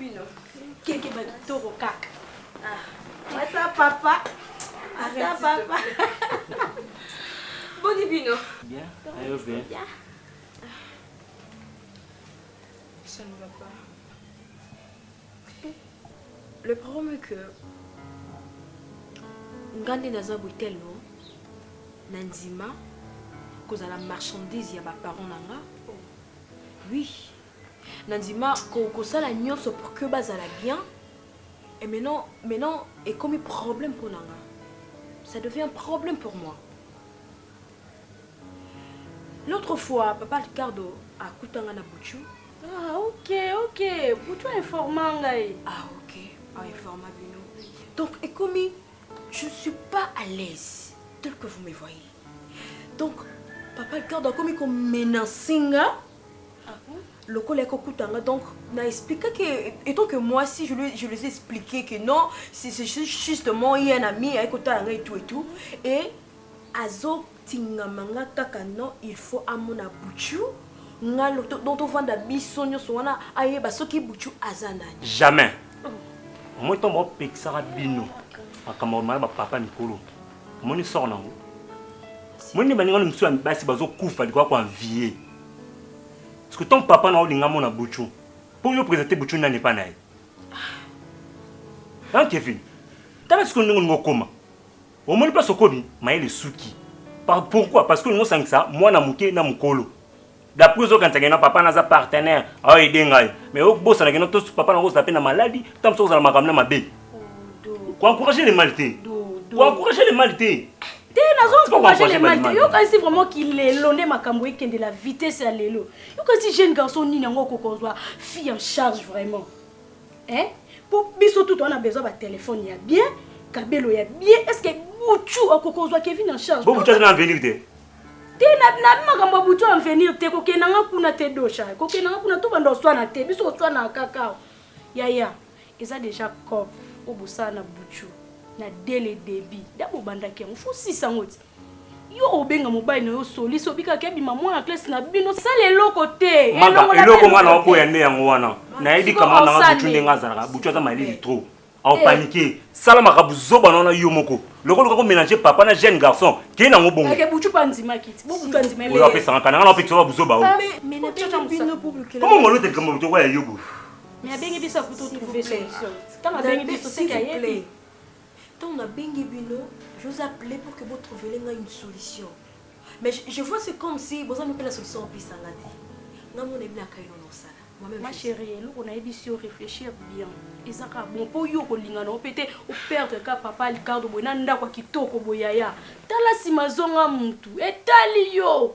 bino keke bakitoko kaka ah. ata papa ata papa boni bino Le problème est que nga nde naza boye tellement na ndima kozala marchandise ya baparent na nga oui na ndima kosala nyonso pour que bazala bien et maintenant maintenant ekomi problème mpo na nga ça devient problème pour moi L'autre fois, papa Ricardo akuta nga na Buchu. Ah, ok, ok. Buchu a informa ngai. Ah, ok. A informa bino. Donc, ekomi, je suis pas à l'aise tel que vous me voyez. Donc, papa Ricardo akomi ko menacer nga. Ah bon? lokola ekokuta nga donc na expliqua que étant que moi si je, lui, je les ai expliqué que non c'est justement ye un ami ayekotala nga et tout et tout et Azo tingama nga kaka non il faut amona boutshu nga loto donc tovanda biso nioso wana ayeba soki boutshu aza nani. Jamais omoni ntango baopekisaka bino makambo ya mala bapapa mikolo omoni soko nango omoni nde baningani mosusu ya basi bazokufa likoya koanvie parceke ntango papa na olinga mona buchu mpo yo présente buchu nani epa na ye an kevin tala siko ndenge olingi okoma Omoni place okomi mayele esuki. Par- Pourquoi? Parce que olingi osangisa mwana moke na mokolo. D'après ozokanisa ke non papa naza partenaire ao aider ngai mais obosana ke non to papa na kozala pe na maladi tango mosusu akozala na makambo na mabe. Ko encourager le mal te. Ko encourager le mal te. Te nazo C'est pas ko encourager encourager le mal te. mal. Yo kanisi vraiment ki lelo nde makambo ekende la vitesse ya lelo. Yo kanisi jeune garçon nini yango akokonzwa fille en charge vraiment. Eh, po biso tout on a besoin ba téléphone ya bien, kabelo ya bien. Est-ce que Bouchou akokozwa Kevin en charge? Bon, Bouchou azana avenir te. Te na na makambo ya Bouchou avenir te, kokenda nga kuna te dosha. Kokenda nga kuna to banda oswana te, biso oswana kaka. Yaya, eza déjà cop obosana na Bouchou. Na dès le début, da bobandaki yango, faut sisa ngoti. Yo obenga mobali na yo solisi obikaki abima mwana classe na bino sala eloko te eloko nga na oboya nde yango wana nayebi kama nanga butu ndenge azalaka butu aza malili trop aopanike eh. sala makambo zoba na wana yo moko loko oluka komélange papa na jeune garçon kei nango bongoyo apesaka kananga na opekisa babuzoba o komo ngolo te likambo motoko ya yobo Mais abengi biso akutu trouver solution. Tant abengi biso c'est qu'il y a Tango na bengi bino, je vous ai appele pour que bo trouveler ngai une solution. Mais je, je vois c'est comme si boza mpe na solution opesa nga te. Nga mona ebi na kaino na osala. Moi-même Ma je sais. chérie, eloko nayebisi yo réfléchir bien. Eza kaka bon mpo yo okolinga na yo mpe te o perdre kaka papa Ricardo boye na ndako ya kitoko boye yaya. Tala nsima zonga mutu. Etali yo.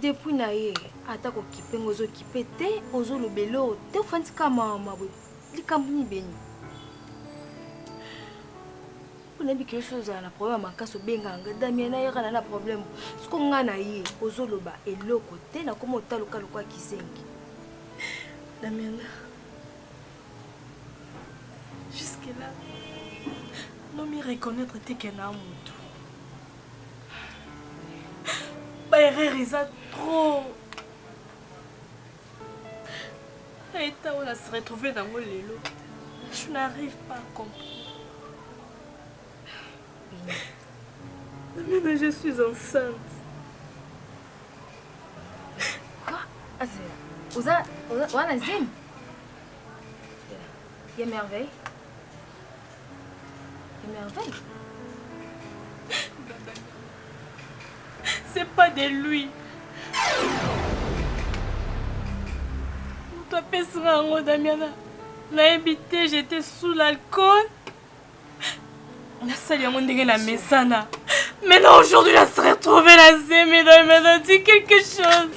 Depuis na ye ata ko kipe nga ozo kipe te ozo loba eloko te ofandi kaka mawa mawa boye likambo nini beni mpo nayebi ke yo soki ozala na problème ya makasi obengaka nga damia nayaka na na problème soko nga na ye ozo loba eloko te nakoma otaluka lokola kizengi damiana jusque là nomi reconnaître te ke na motu ba erreur eza trop eta oyo na se retrouve nango lelo je n'arrive pas à comprendre Amina, je suis enceinte. Quoi Oza, oza, wana zim Ya merveille Merveille. C'est pas de lui. Moto apesaka yango Damiana. Nayebi te j'étais sous l'alcool. nasali yango ndenge na mesana maintenant aujourd'hui na se retrouve na zemi na mena dit quelque chose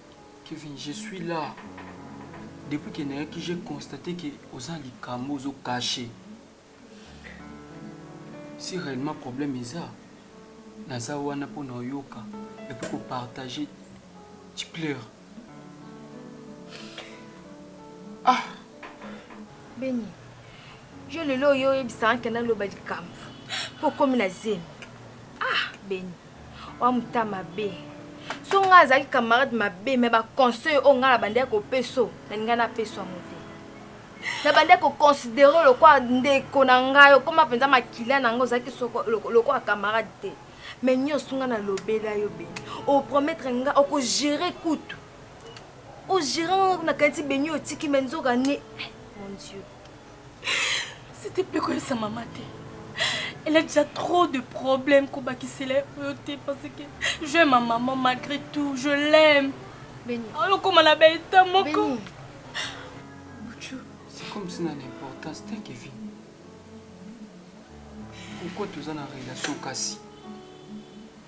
Kevin, je suis là. Depuis que nayaki, j'ai constaté que oza likambo ozo cacher. Si réellement problème eza, naza wana mpo na oyoka et puis ko partager tu pleures. Ah! Beni, yo lelo oyo oyebisaka ke naloba likambo mpo okomi na zemi. Ah, Beni. Wa muta mabe. So nga azaki camarade mabe mais ba conseil o nga na bande ko peso na linga na peso mo te. Na bande ko considérer le quoi nde ko na nga yo koma penza makila na nga ozaki soko le quoi camarade te. Mais nyo sunga na lobela yo be. O promettre nga o ko gérer kutu. O gérer nga na kanti be nyo otiki mais nzoka ne. Mon Dieu. Site mpe koyebisa mama te. Elle a déjà trop de problèmes kobakisela ye oyo te parce que je ma maman malgré tout je l'aime. Beni. Alokoma na ba état moko. Beni. Buchu. C'est comme si na l'importance te Kevin. Pourquoi toza na relation kasi?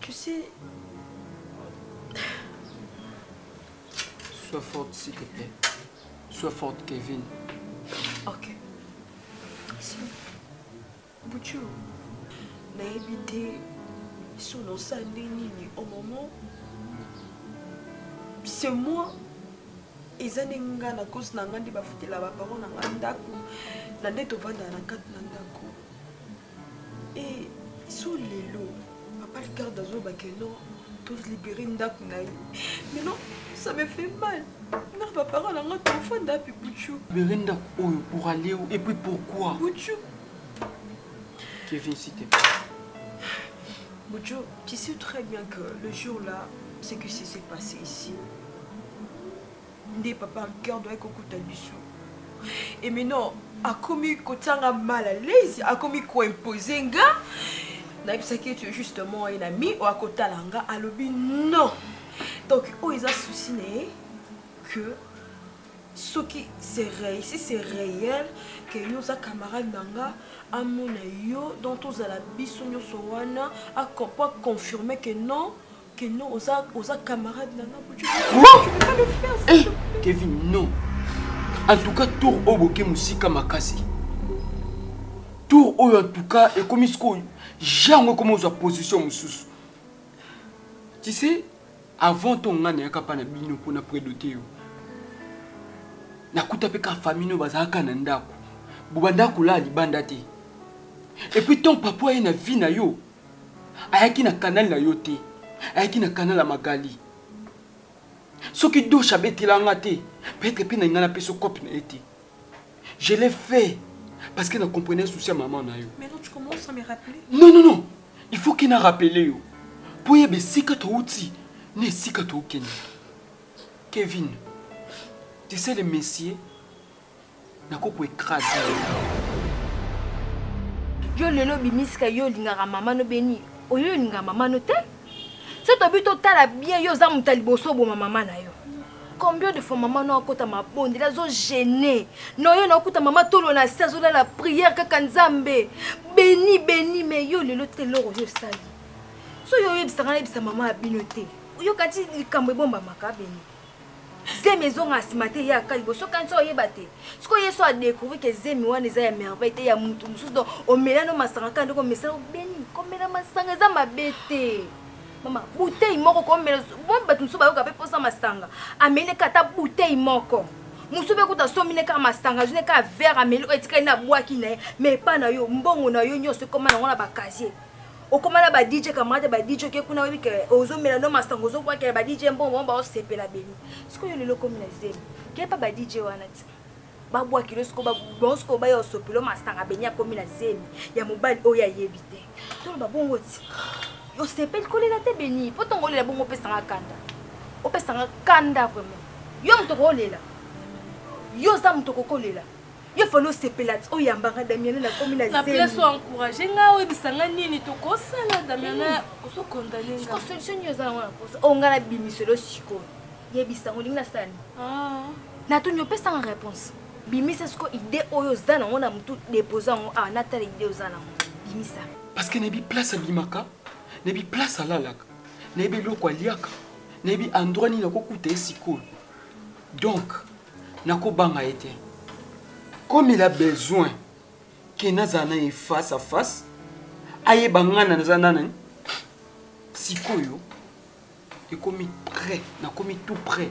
Tu sais... Sois forte, s'il te plaît. Sois forte, Kevin. Ok. Si. Bouchou, n'a évité sous nos nini au moment c'est moi eza nde nga na kosi na nga nde bafutela baparent na nga ndako na nde tovandaka na kati na ndako so lelo papa ligarde azoba ke non tolibere ndako na ye mais non ça me fait mal nga baparent na nga tofanda api buchu libere ndako oyo pour aller où et puis pourquoi buchu kevin site buchu tu sais très bien que le jour là ce qui s'est passé ici nde papa Ricard doit kokuta biso et maintenant akomi kotianga mal à l'aise akomi koimpose nga nayebisaki ete justement ye na mi oyo akotala nga alobi non donc oyo eza souci na ye que soki c'est réel si c'est réel que yo oza camarade na nga amona yo donc tozala biso nyonso wana po aconfirme que non Que non, oza, oza camarade na nga, tu peux pas le faire, s'il te plaît. Kevin, non. En tout cas, tour oyo boke musika makasi. Tour oyo en tout cas ekomi sikoyo jango ekomi ozwa position mosusu. Tu sais, avant to nga nayaka pa na bino mpo na predote yo. Nakuta mpe ka famille oyo bazalaka na ndako. Bobandaka kolala libanda te. Et puis ton papa ye na vie na yo, ayaki na canal na yo te ayaki na canal ya magali soki doche abetela nga te peut-être pe na linga na peso cope na ye te je l'ai fait parce que na comprenais souci ya maman na yo Mais non, tu commences à me rappeler. non non non il faut ke na rappele yo mpo oyeba esika touti na esika tookende kevin tu sais le messier Nako ko ecraser yo. Yo lelo obimisi ka yo olingaka mama no beni oyo olingaka mama no te so tobi totala bien yo oza moto ya liboso oboma mama na yo combien de fois mama no akota mabondeli azogene na yo naokuta mama tolo na se azolala priere kaka nzambe beni beni me yo lelo te eloko yo osali so yo oyebisaka nayebisa mama ya bino te oyoka ti likambo ebombamaka beni Zemi ezonga na sima te eyaka liboso kani so oyeba te. Sikoyo ye so a découvrir que zemi wana eza ya merveille te ya mutu mosusu donc omela no masanga kaka ndenge omesana obeni komela masanga eza mabe te. Mama bouteille moko komela bo bato mosusu bayoka pe posa masanga ameli ne kata bouteille moko mosusu pe kuta asombi ne kaka masanga azwi ne kaka verre ameli oyo etikali na bwaki na ye mais epa na yo mbongo na yo nyonso ekoma nango na ba casier okoma na ba DJ camarade ya ba DJ oke kuna oyebi ke ozomela no masanga ozokwakela ba DJ mbongo bango baosepela beni sikoyo lelo okomi na zemi kepa ba DJ wana ti babwaki lo sikoyo bango sikoyo baya osopelo masanga beni akomi na zemi ya mobali oyo ayebi te toloba bongo ti osepeli kolela te beni mpo ntongo olela bongo opesanga kanda opesanga kanda vraimen yo moto okoolela yo oza moto okokolela Yo fallait osepela ti oyamba nga Damiana na komi na zemi. Na place o encourager nga oyebisa nga nini tokosala Damiana hmm. ozo condamner nga. Siko solution nini oza na wana posa? O nga na bimiselo siko. Yebisa ngo lingi na sala nini? Ah. Na tuni opesa nga réponse. Bimisa siko idée oyo oza na ngo na mutu dépose ngo awa na tala idée oza na ngo. Bimisa. Parce que na bi place abimaka, na bi place alalaka, na bi eloko aliaka, na bi endroit nini akokuta ye sikoyo. Donc Nako banga ye te comme il a besoin que nazala na ye face à face ayeba nga na naza nani sikoyo ekomi près nakomi tout près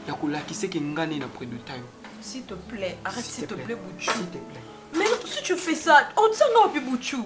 ya kolakisa ke nga nde na preduta yo S'il te plaît, arrête s'il te plaît, Boutchou. S'il te plaît. Mais si tu fais ça, on tient là, puis Boutchou.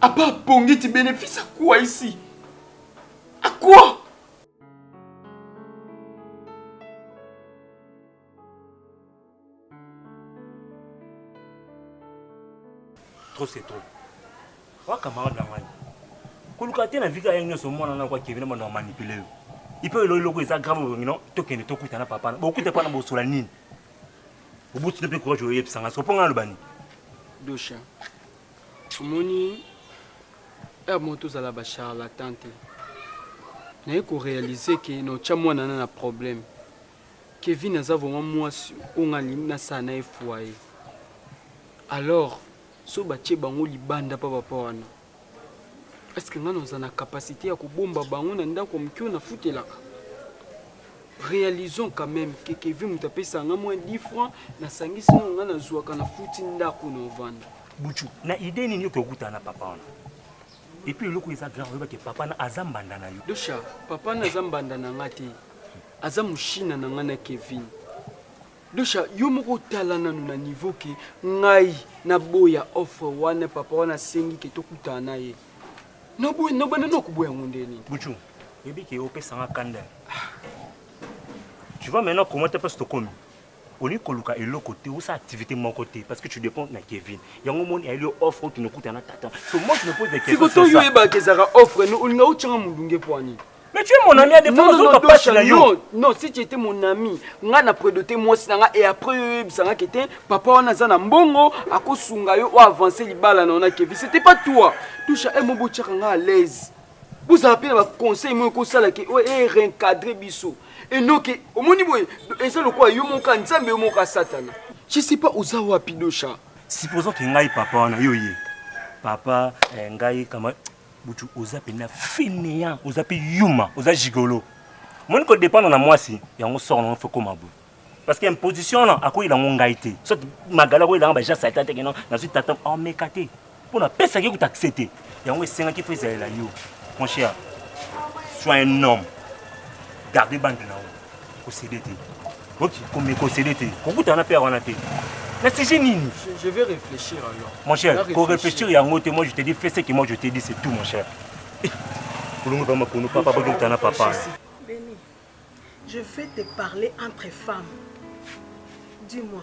À part Pongi, tu bénéfices à quoi ici À quoi Trop c'est trop. Wa camarade na ngai. Koluka te na vika yango nyonso mwana na kwa Kevin mwana manipule yo. Ipe elo eloko eza grave bongi non tokende tokutana papa. Bokuta pana bosola nini? Obuti mpe courage oyebisa ngai. Soponga nalobani. Dosha. omoni heure moko tozala ba charlatan te naye ko realiser ke na otya mwana na na problème kevin aza vraiment mwasi oyo nga nalingi nasala na ye foyer alors so batye bango libanda pa papa wana eske nga naza na capacité ya kobomba bango na ndako moke oyo nafutelaka Realisons quand meme que Kevin moto apesa nga moins 10 francs na sangisi na nga na zuaka na futi ndako na ovanda. Buchu, na idée nini yo kokutana na papa wana? Et puis eloko eza grand oyeba que papa na aza mbanda na yo. Dosha, papa na aza mbanda na nga te. Aza mushina na nga na Kevin. Dosha, yo moko tala nanu na niveau que ngai na boya offre wana papa wana sengi que tokutana na ye. Noboye nobanda no kuboya yango nde nini? Buchu, yebi ke opesa nga kanda. Tu vois maintenant comment ta place tokomi? olingi koluka eloko te osa activité moko te parce que tu dépends na kevin yango omoni ayeli yo offre okende okuta na tata so moi je me pose des questions sikoto yo oyebaka ezalaka offre olinga otyanga molunge mpo ani Mais tu es mon ami, à défaut, non, non, non, toi, na yo. Non, non, si tu étais mon ami, nga na prédoté moi si nga et après yo bisanga qui était papa on a zana mbongo à ko sunga yo ou avancer les balles on a Kevin. C'était pas toi. Touche à un mot tchaka nga à l'aise. Vous appelez ma conseil moi ko sala que ouais eh, réencadrer biso. Et non que au moni boy et ça le quoi yo mon kan nzambe yo mon ka satana. Je sais pas oza wapi dosha. Supposons que ngai papa on a yo yé. Papa eh, ngai kama Butu oza pena fainéant, oza pe yuma, oza gigolo. Moni ko dépendre na mwasi, yango sort na fo koma boye. Parce que imposition na akoyi na ngai te. Soit magala ko ilanga ba ja satan te non, na zui tata en meka te. Pona pesa ki ko t'accepter. Yango esenga ki fo ezalela yo. Mon cher, sois un homme. Garde bande na yo. kosede te oki komi kosede te kokutana na père wana te na sujet nini je vais réfléchir alors mon cher ko réfléchir yango te moi je te dis fais ce que moi je te dis c'est tout mon cher eh, kulungu pa makunu papa bakokutana na papa Béni, je vais te parler entre femmes dis-moi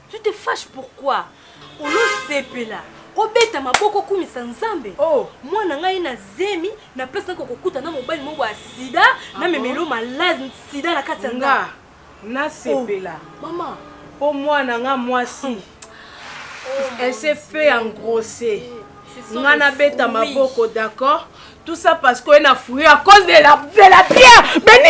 Tu te fâches pourquoi? Olo sepela obeta maboko okumisa Nzambe. Oh. Mwana ngai na zemi na place nako kokuta na mobali moko ya sida ah, na memelo malade sida na kati ya nga. Na sepela. Oh. Mama. Po mwana nga mwasi. Hmm. Oh, Elle s'est fait engrosser. Nga na beta maboko d'accord? Tout ça parce qu'on a fouillé à cause de la, de la pierre. Béni.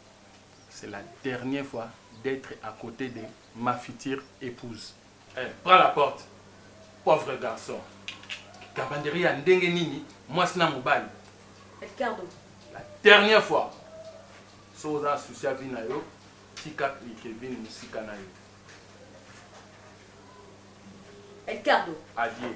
C'est la dernière fois d'etre à cote de ma future epouse. Eh, prends la porte. Pauvre garçon. Gabanderie ya ndenge nini mwasi na mobali? Ricardo. La dernière fois. So oza souci ya vie na yo, tika Kevin musika na yo. Ricardo. Adieu.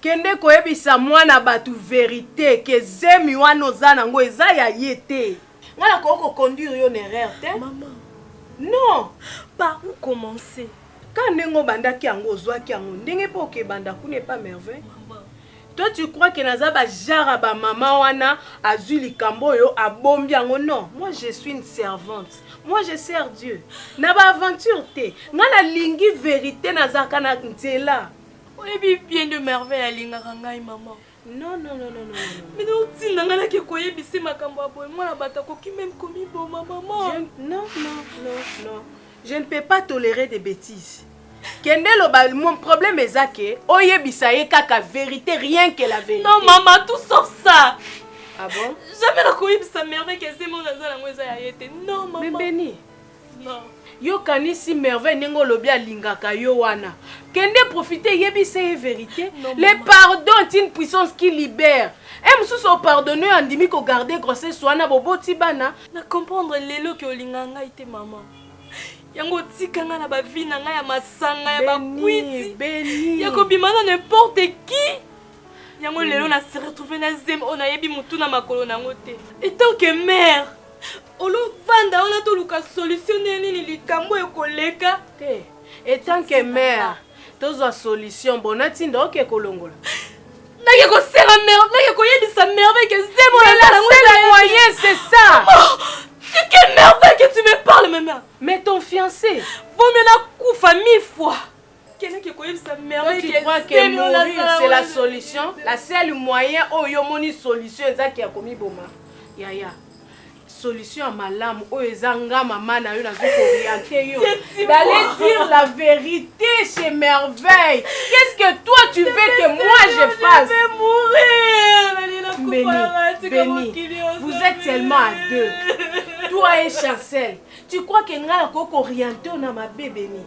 Kende koyebisa mwana batu verite que zemi wana oza na ngo eza ya ye te. Nga na koki ko conduire yo na erreur te maman non par ou commencer kaka ndenge obandaki yango ozuaki yango ndenge pe oke banda kuna epa merveille toi tu crois que naza ba jara ba maman wana azui likambo oyo abombi yango non moi je suis une servante moi je sers Dieu na ba aventure te nga na lingi verite nazalaka na nzela Oyebi bien de merveille alingaka ngai maman. Non non non non non. Bino otinda ngai nake koyebise makambo ya boye mwana bato akoki meme komiboma maman. Je... Non non non non. Je ne peux pas tolérer des bêtises. Kende loba mon problème eza que oyebisa ye kaka vérité rien que la vérité. Non maman tout sauf ça. Ah bon? Jamais nakoyebisa merveille que zemo naza nango eza ya ye te. Non maman. Mais Beni. yo kanisi merveille ndenge olobi alingaka yo wana kende profite yebisa ye verité le pardon est une puissance qui libère e mosusu opardonne oyo andimi kogarde grossesse wana boboti bana na comprendre lelo ke olingaka ngai te mama yango otika ngai na bavi na ngai ya masanga ya bakwiti ya kobima na n'importe qui yango lelo na se retrouve na zemi oyo nayebi motu na makolo na yango te etant que mare Olo vanda wana toluka solution ndenge nini likambo oyo ekoleka te etant que mère tozwa solution bona tinda oke kolongola nake kosenga mer nake koyebisa merveille que zemo Mais la nasalango seule ezali- moyen c'est ça Oh, c'est que merveille que tu me parles maintenant mais ton fiancé vaut mieux nakufa mille fois kendeke koyebisa c'est la solution la seule moyen oyo omoni solution ezaki ya komiboma yaya solution ya malamu oyo eza nga mama na yo nazo koriente yo d'aller dire la vérité chez merveille qu'est-ce que toi tu veux que moi je fasse Béni, Béni, vous êtes tellement à deux toi et chancel tu crois que nga nakoki koriente yo na mabe beni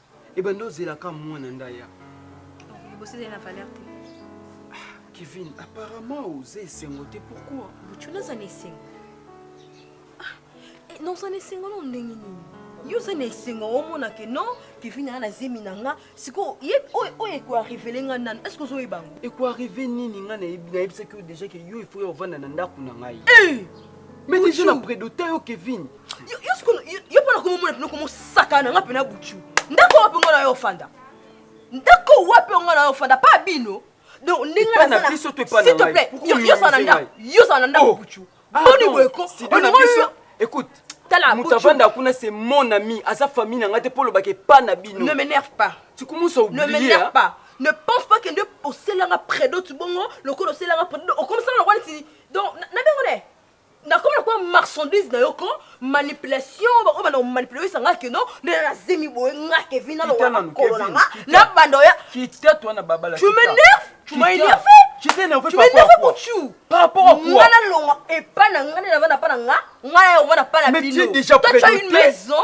ebanda ozela ka mwana nda ya liboso ezali na valeur te kevin apparemment oza esengo te pourquoi buchuna aza na esengo Ah, eh, na oza na esengo na ndenge nini yo oza na esengo omona ke non kevin aa na zemi na nga sikoyo ye oyo oyo ekoarivele nga nanu est ce que ozoyeba yango ekoarrive nini nga nayebi- nayebisaki yo deja ke yo ifo ya ovanda na ndako na ngai Eh! mais deja na Buchou. predote yo kevin yo sikoyo yo mpona komomona mpena komosaka na nga mpena butu ndako wapi ngo na yo ofanda ndako wapi ngo na yo ofanda pa bino donc ndenge nazalaiosala na ndako butu boni boye ko écoute tala moto avanda kuna c'est mon ami aza famille na nga te mpo olobaka epa na bino ne m'énerve pas tu commence à oublier ne m'énerve pas ne pense pas que nde oselanga predo ti bongo lokola oselanga predo okomisanga lokola ti donc nabengo ne nakoma na kwa marchandise na yo ko manipulation bako bana manipulation sanga que non mais na zemi boye nga Kevin na lokola makolo na nga na banda oya kita toi na babala tu m'énerve tu m'as énervé tu m'énerve par rapport tu par rapport à quoi ngana longa epa na ngana na bana pa na nga ngana yo bana pa na bino mais tu déjà présenté toi tu as une maison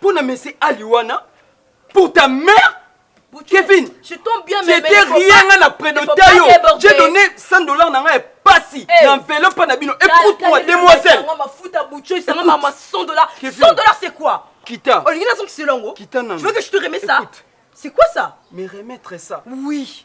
Pour na monsieur Ali wana, pour ta mère Kevin, je tombe bien, mais rien nga na prénoté yo. J'ai donné 100 dollars na nga ya pasi eh. na enveloppe pa na bino. Écoute-moi, demoiselle. Nga mafuta bucho, ça nga ma 100 dollars. 100 dollars c'est quoi Kita. Olingi na zongi selongo. Kita na. Tu veux que je te remets ça C'est quoi ça Me remettre ça. Oui.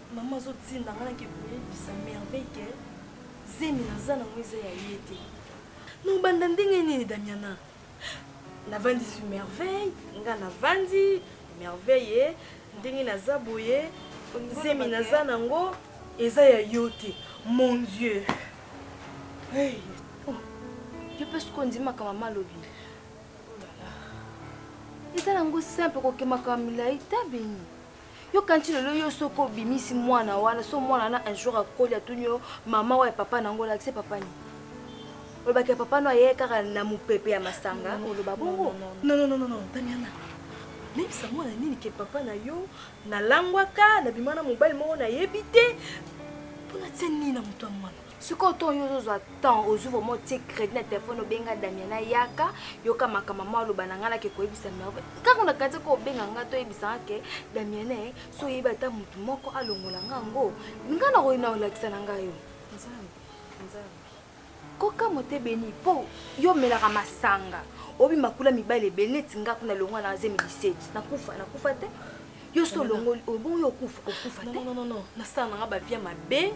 Maman azotinda nga nake koyebisa merveille ke zemi naza nango eza ya ye te. Nobanda ndenge nini Damiana? Navandisi merveille, nga navandi merveille ndenge naza boye zemi naza nango eza ya yo te. Mon Dieu. Hey. Oh. Yo mpe soki ondimaka mama alobi eza nango simple kokemaka milai ta beni Yo kanti lelo yo soki obimisi mwana wana so mwana wana un jour akoli atuni yo mama oyo ya papa na yango olakisi papa nini olobaki ya papa no ayeye kaka na mopepe ya masanga oloba bongo nonononono tamiana nayebisa mwana nini ke papa na yo nalangwaka nabima na mobali moko nayebi te mpo natia nini na moto ya mwana sikoyo ntongo yo ozozwa temps ozwi vraimen otie crédit na telefone obenga damiana yaka yoka makambo mwa aloba na ngai nake koyebisa merve kaka na kati ko obenga ngai toyebisa nga ke damiana eh, so oyebi ata motu moko alongola nga yango ngai nakoyi na olakisa na ngai yo kokamwa te beni mpo yo omelaka masanga obi makula mibale ebele neti nga kuna longwa na zemi 17 nakufa nakufa te yo so olongoli oyo bongo yo okufa okufa te non non non nasala nanga bavia mabe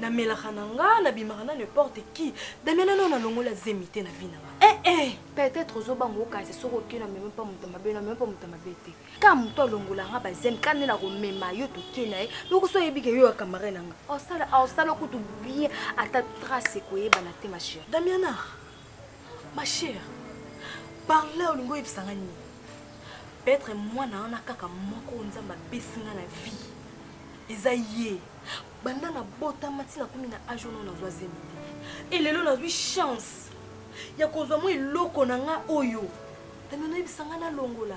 namelaka na nga nabimaka na n'importe qui damia nano nalongola zemi te na vi na nga eh, eh. peut-être ozobanga okasi soki okei na meme mpa moto mabe na meme mpa moto mabe te ka moto alongola nga bazemi ka nde nakomema yo tokei na ye yoko so oyebike yo ya camarade na nga osala osala kutu bien ata trace ekoyebana te ma chérie damiana Ma chère, par là olingi oyebisa nga nini? Peut-être mwana wana kaka moko oyo Nzambe apesi nga na vie eza ye. Banda nabotama ti nakomi na age wana nazwa zemi te. Et lelo nazwi chance ya kozwa mwa eloko na nga oyo. Tami onoyebisa nga nalongola.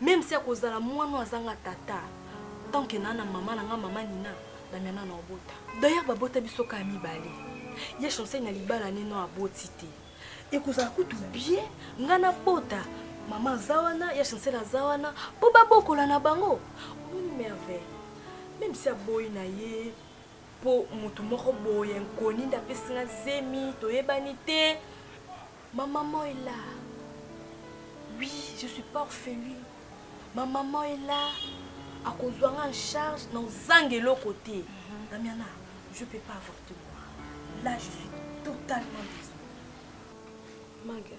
Meme si akozala muana oyo azanga tata tant que naa na maman na nga maman Nina Damiana na obota. D'ailleurs ba bota biso kaka mibale ye Chancel na libala ne non aboti te ekozala kutu bien nga na bota maman aza wana ya Chancel aza wana po ba bokola na bango omoni merveille meme si aboyi na ye po mutu moko boye inconnu nde apesi nga zemi toyebani te Ma maman est là. Oui, je suis pas orpheline. Ma maman est là. akozwa nga en charge na ozanga eloko te mhm. damiana je peux pas avorter moi là je suis totalement désolé maga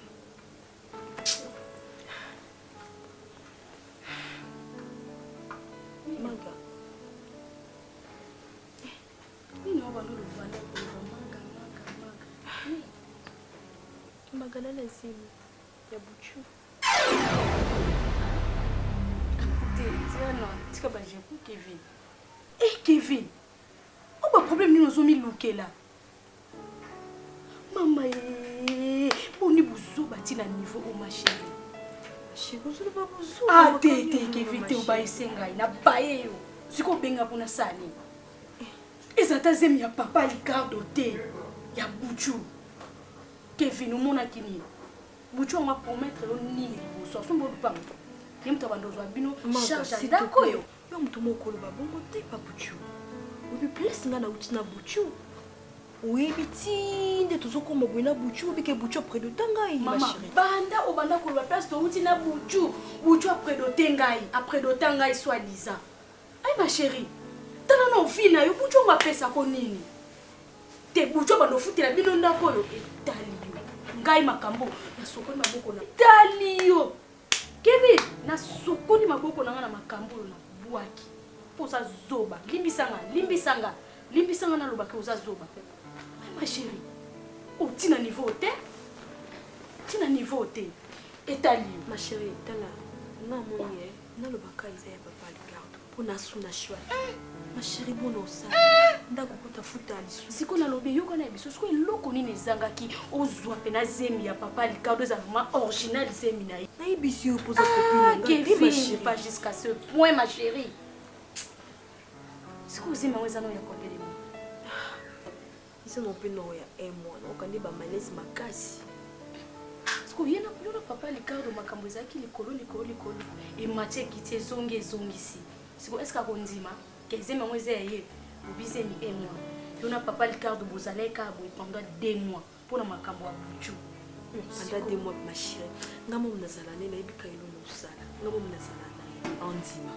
maga Magana na zemi ya buchu. Te, Diana, tika ba jeu Kevin. Eh Kevin, oba problème nini ozo milukela? Mama ye, boni buzoba ti na niveau o ma chérie. Chérie, ozali ba buzoba. Ah te te Kevin te obayise ngai na baye yo. Siko benga kuna sani. Eza ta zemi ya papa Ricardo te ya Buchu. Kevin omonaki nini? Buchu on va promettre yo nini liboso? Asombo lupango. Ye moto abanda ozwa bino charge ya ndako oyo. Yo mutu moko koloba bongo te papuchu. Obi place nga nauti na buchu. Oyebi ti nde tozokoma boye na buchu obi ke buchu après de temps ngai ma Mama, chérie. banda obanda koloba place touti na buchu buchu après dote ngai après dota ngai soit disant ai ma chérie tala na ovi na yo buchu yango apesako nini te buchu abanda ofutela bino ndako oyo etali yo ngai makambo nasokoli maboko na etali yo Kevin, nasokoli maboko na nga na makambo oyo na bwaki po oza zoba. Limbisa nga, limbisa nga, limbisa nga naloba ke oza zoba. Mais ma cherie, oti na niveau oyo te, oti na niveau oyo te. Etali yo. Ma cherie, tala, nga namoni eh, naloba ka eza ya papa Ricardo. Pona asuna shwa. Eh, ma chérie bona osala. Eh! Ndako kuta futa lisu. Siko na lobi yoka na biso. Siko eloko nini ezangaki ozwa pena zemi ya papa Ricardo eza vraiment original zemi na ye. Na ibisi yo poza kopina nga. Kevin, ma chérie. Pas jusqu'à ce point ma chérie. Siko zemi yango eza no ya kotelema. Biso na mpe noko ya un mois na okandi ba malaise makasi. Siko ye na yo na papa Ricardo makambo ezalaki likolo likolo likolo emati ekiti ezongi ezongisi. Siko eske akondima ke zemi yango eza ya ye? Lobi zemi un mois. Yo na papa Ricardo bozalaki kaka boye pendant deux mois mpo na makambo ya buju. Pendant deux mois ma chérie. Nga mom nazala ne nayebi ka eloko ozala. Nga mom nazala na ye. Andima.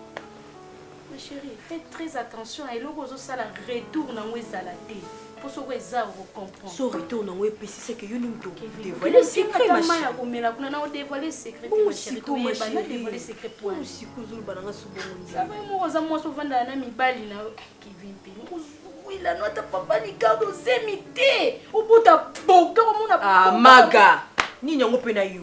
Ma chérie, fais très attention à eloko ozo sala retour nango ezala te. Pour soko eza au comprendre. So retour nango epesi c'est que yo ndim to dévoiler secret ma chérie. Ya komela kuna na dévoiler secret pour ma chérie. Pour ma chérie, dévoiler secret pour. Pour siko zulu bananga subo mon. Ça va mo oza mo so vanda na mibali na Kevin pe. Wila no ta papa ni kado zemite. Obuta boka omona. Ah maga. Nini yango pe na yo?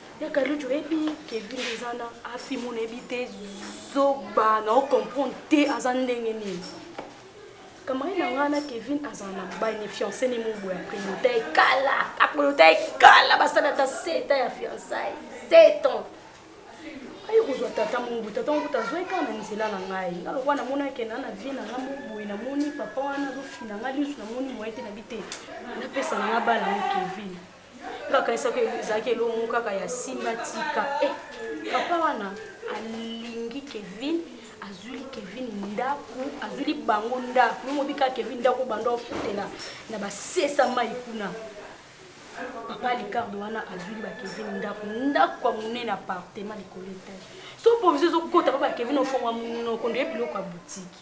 Ya Kaluji oyebi Kevin eza na Afimo nayebi te zoba na o comprendre te aza ndenge nini. Kamari na ngai na Kevin aza na mobali ni fiancé ni mobo ya Prelota ekala. A Prelota ekala basala ata 7 ans ya fiançailles. 7 ans. Ayo kozwa tata mobu tata mobu tazwa ekala na nzela na ngai. Nga lokwa na mona ke na na vie na ngai moboye na moni papa wana azofina ngai lisu na moni moyen te na bite. Napesa na ngai bala na Kevin. nakanisaka ezalaki elongo kaka ya simba tika e papa wana alingi kevin azwili kevin ndako azwili bango ndako yo mobi kaka kevin ndako banda ofutela na basesa mai kuna papa licardo wana azwili bakevin ndako ndako ya monene apartema likolo etage so provision ezokota pa bakevin ofonga monoko ndoye biloko ya butiki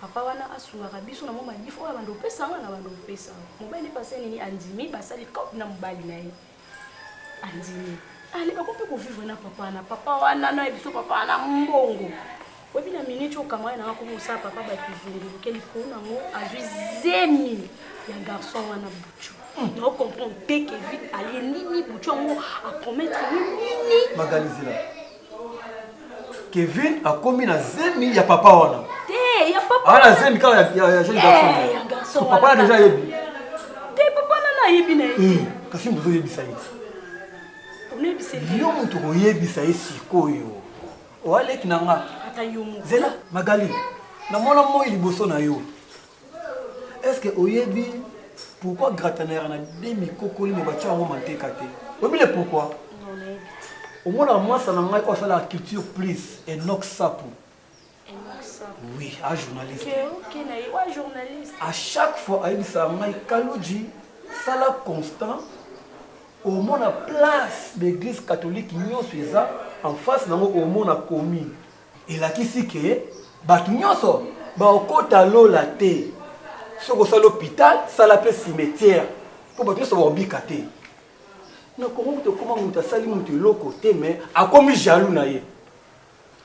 Papa wana asungaka biso na mwa madif oyo abanda opesa yango na banda opesa yango. Mobali pase nini andimi basali cop na mobali na ye andimi ale bako mpe kovivre na papa wana papa wana na biso papa wana mbongo oyebi na miniti oyo kamara nanga komi osala papa bato zunguluke likolo nango azwi zemi ya garçon wana bucu na ocomprendre te kevin alie nini bucu yango apromettre nini magalizela Kevin akomi na zemi ya papa wana. Te, ya papa. Ah, na zemi kaka ya ya ya jeune garçon. Eh, ya garçon. So papa na deja yebi. Te papa na na yebi na yebi. Eh, kasi mbozo yebisa ye. Onebisa ye. Yo mutu ko yebisa ye sikoyo. Oaleki na nga. Ata yo mutu. Zela, Magali. Na mona moi liboso na yo. Est-ce que oyebi pourquoi gratanera na demi kokoli mais batya yango manteka te? Oyebi le pourquoi? Non, nayebi te. Omonaka mwasa na ngai oyo asalaka culture plus Enoch Sapu. Enoch Sapu. Oui, a journaliste. Que oke na ye, oa journaliste. À chaque fois ayebisaka ngai Kaludji sala constant omona place d'église catholique nyonso eza en face nango omona commune Elakisi ke bato nyonso bakokota lola te. Soki osali hopital, sala pe cimetiere po bato nyonso bakobika te. Na Congo kutu ekoma moto asali moto eloko te mais akomi jaloux na ye.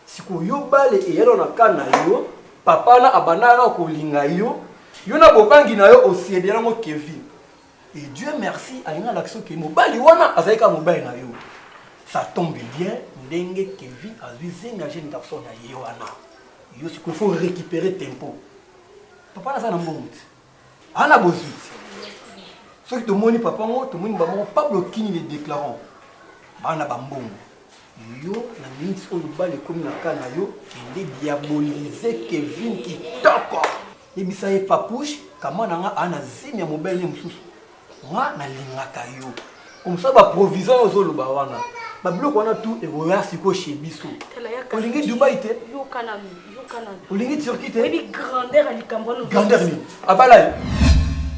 Sikoyo yo bale eyali na cas na yo, papa wana abandaka kaka kolinga yo, yo na bobangi na yo o ceder yango Kevin. Et Dieu merci alingi alakisa oke mobali wana azali kaka mobali na yo. Ça tombe bien ndenge Kevin azwi zemi ya jeune garçon na ye wana. Yo sikoyo faut récupérer tempo. Papa naza na mbongo te. Ana bozwi te. Soki tomoni papa ngo tomoni bango moko Pablo Kini les déclarants. Bana ba mbongo. Yo na minutes oyo bali ekomi na cas na yo kende diaboliser Kevin kitoko. Yebisa ye papouche kama na nga a na zemi ya mobali ne mosusu nga na lingaka yo comme ça ba provision ozo loba wana ba biloko wana tout ekoya siko chez biso olingi Dubai te olingi Turquie te grandeur ni abala ye